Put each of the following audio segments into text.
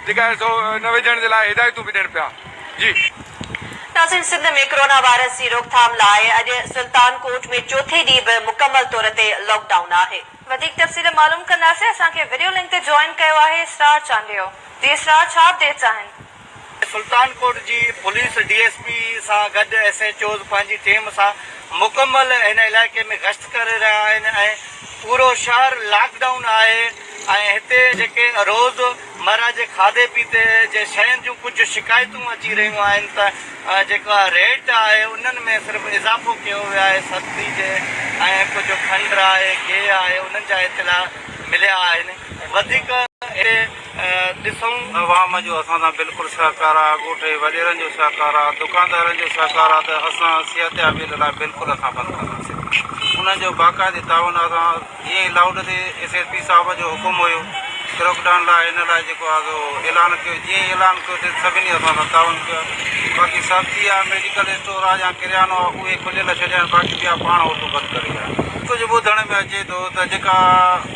جيڪا سو نه وجهڻ جي لاء هدايتون به ڏين پيا جي. ناظرين سنڌ ۾ ڪرونا وائرس جي روڪٿام لاء اڄ سلطان ڪوٽ ۾ چوٿين ڏينهن به مڪمل طور تي لاڪ ڊائون آهي. وڌيڪ تفصيل معلوم ڪنداسين اسان کي وڊيو لنڪ تي جوائن ڪيو آهي اسرار چانڊيو جي اسرار ڇا اپڊيٽس آهن. سلطان ڪوٽ جي پوليس ڊي ايس پي سان گڏ ايس ايچ اوز پنهنجي ٽيم سان مڪمل هن علائقي ۾ گشت ڪري رهيا آهن ۽ پورو شهر لاڪ ڊائون آهي ۽ هتي جيڪي روز مره جي کاڌي پيتي جي شين جون ڪجهه شڪايتون اچي رهيون آهن ته جيڪا ريٽ آهي انهن ۾ صرف اضافو ڪيو ويو آهي سبزي جي ۽ ڪجهه کنڊ آهي گيهه آهي انهن جا اطلاع مليا آهن وڌيڪ هتي ڏسون. عوام جو اسان سان بلڪل سهڪار آ، ڳوٺي وڏيرن جو سهڪار آ، دڪاندارن جو سهڪار آ ته اسان صحتيابيء لاء بلڪل اسان بند ڪنداسين. انهن جو باقاعدي تعاون آ سان جيئن ئي لاڪ ڊائون تي ايس ايس پي صاحب جو حڪم هيو ڪروڪ ڊائون لاء ان لاء جيڪو آ سو اعلان ڪيو جيئن ئي اعلان ڪيو تي سڀني اسان سان تعاون ڪيو آ باقي سبزي آ ميڊيڪل اسٽور آ يا ڪريانو آ اهي کليل ڇڏيا آهن باقي ٻيا پاڻ هوٽلون بند ڪري ويا آهن. ڪجهه ٻڌڻ ۾ اچي ٿو ته جيڪا.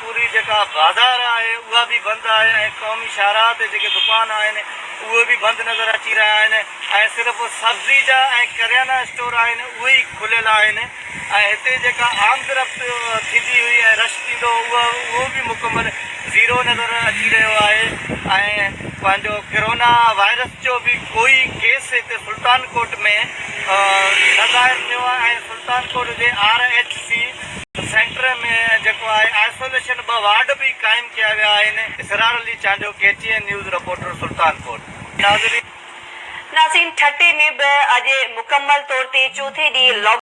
پوري جيڪا بازار آهي اها به بند آهي ۽ قومي شاهراهه تي جيڪي دڪان آهن اهي به بند نظر اچي رهيا آهن ۽ صرف سبزي جا ۽ ڪريانا اسٽور آهن اهي ئي کليل آهن ۽ هتي جيڪا آمدرفت ٿيندي هئي ۽ رش ٿيندو هو اهو به مڪمل زيرو نظر اچي رهيو آهي ۽ پنهنجو ڪرونا وائرس جو به ڪوئي ڪيس هتي سلطان ڪوٽ ۾ نه ظاهر ٿيو آهي ۽ سلطان ڪوٽ جي آر ايڇ سي سينٽر ۾ جيڪو آهي آئسوليشن ٻه وارڊ به قائم ڪيا ويا آهن. Israr Ali Chandio, K T N news, reporter, Sultanpur, ناظرين! ناسين ٺٽي ۾ به اڄ مڪمل طور تي چوٿين ڏينهن لاڪ